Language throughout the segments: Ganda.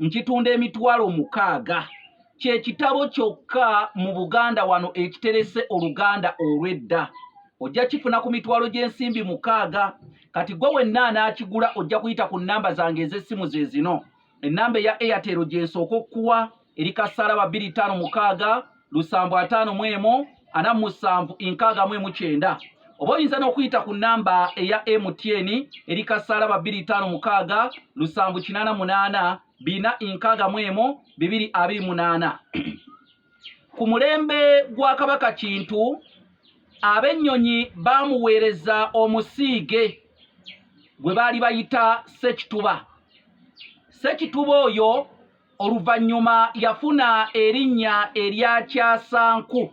nkitunda emitwalo mukaaga kye kitabo kyokka mu buganda wano ekiterese oluganda olw'edda ojja kifuna ku mitwalo gy'ensimbi mukaaga kati gwe wenna anaakigula ojja kuyita ku nnamba zange ez'essimu ze zino ennamba eya airtel gyensooka okukuwa eri kasaala babiri ttaano mukaaga lusanvu ataano mu emu ana mu musanvu nkaaga mu emu kyenda oba oyinza n'okuyita ku nnamba eya mtn eri kasaala ba bbiri taano mukaaga lusanvu kinaana munaana bina nkaaga mu emu bibiri abiri munaana ku mulembe gwa kabaka kintu ab'ennyonyi baamuweereza omusiige gwe baali bayita sekituba sekituba oyo Oluvannyuma yafuna erinnya erya Kyasanku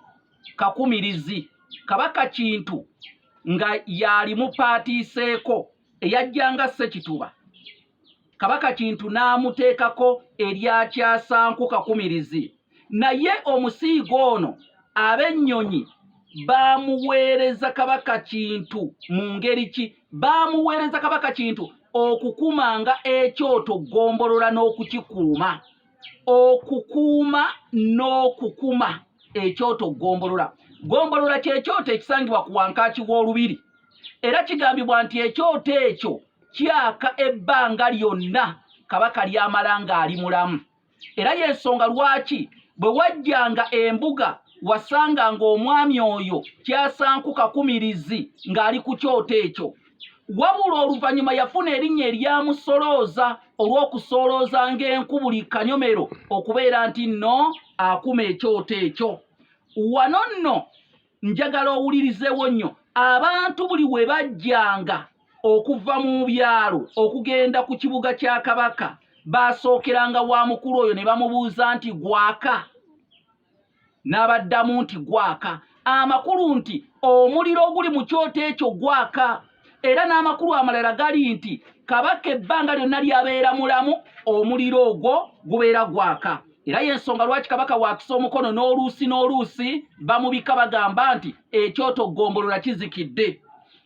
Kakumirizi. Kabaka Kintu nga y'alimupaatiiseeko eyajjanga Ssekituba. Kabaka Kintu n'amuteekako erya Kyasanku Kakumirizi. Naye omusiige ono ab'ennyonyi baamuweereza Kabaka Kintu mu ngeri ki? baamuweereza kabaka kintu okukumanga ekyoto ggombolola n'okukikuuma okukuuma n'okukuma ekyoto ggombolola ggombolola kyekyoto ekisangibwa ku wankaaki w'olubiri era kigambibwa nti ekyoto ekyo kyaka ebbanga lyonna kabaka lyamala ng'ali mulamu era y'ensonga lwaki bwe wajjanga embuga wasanga ng'omwami oyo kyasanku kakumirizi ng'ali ku kyoto ekyo wabula oluvannyuma yafuna erinnya eryamusolooza olw'okusoolooza ng'enku buli kanyomero okubeera nti nno akuma ekyoto ekyo wano nno njagala owulirizewo nnyo abantu buli we bajjanga okuva mu byalo okugenda ku kibuga kya kabaka baasookeranga wa mukulu oyo ne bamubuuza nti gwaka n'abaddamu nti gwaka amakulu nti omuliro oguli mu kyoto ekyo gwaka era n'amakulu amalala gali nti kabaka ebbanga lyonna lyabeera mulamu omuliro ogwo gubeera gwaka era y'ensonga lwaki kabaka wakisa omukono n'oluusi n'oluusi bamubika bagamba nti ekyoto ggombolola kizikidde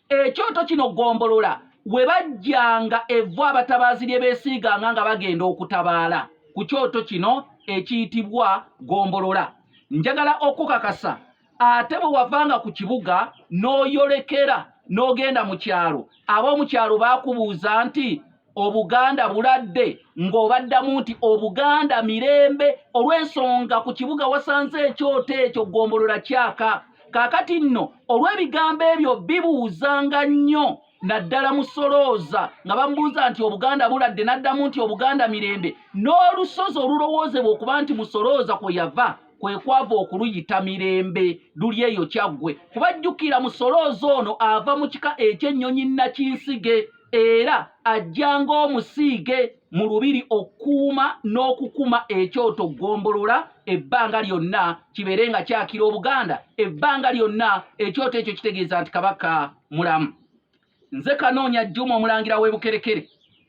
ekyoto kino ggombolola we bajjanga evvu abatabaazi lye beesiiganga nga bagenda okutabaala ku kyoto kino ekiyitibwa ggombolola njagala okukakasa ate bwe wavanga ku kibuga n'oyolekera n'ogenda mu kyalo ab'omu kyalo baakubuuza nti obuganda buladde ng'obaddamu nti obuganda mirembe olw'ensonga ku kibuga wasanze ekyoto ekyo ggombolola kyaka kaakati nno olw'ebigambo ebyo bibuuzanga nnyo naddala musolooza nga bamubuuza nti obuganda buladde n'addamu nti obuganda mirembe n'olusozi olulowoozebwa okuba nti musolooza kwe yava kwe kwava okuluyita mirembe luli eyo kyaggwe kuba jjukira musolooza ono ava mu kika eky'ennyonyi nakinsige era ajja ng'omusiige mu lubiri okukuuma n'okukuma ekyoto ggombolola ebbanga lyonna kibeere nga kyakira obuganda ebbanga lyonna ekyoto ekyo kitegeeza nti kabaka mulamu nze kanoonya juma omulangira w'ebukerekere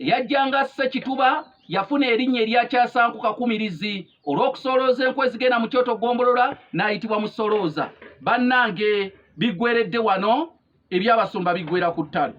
eyajjanga asse kituba yafuna erinnya eryakyasanku kakumirizi olw'okusolooza enku ezigenda mu kyoto gombolola n'ayitibwa musolooza bannange biggweredde wano ebyabasumba biggwera ku ttalo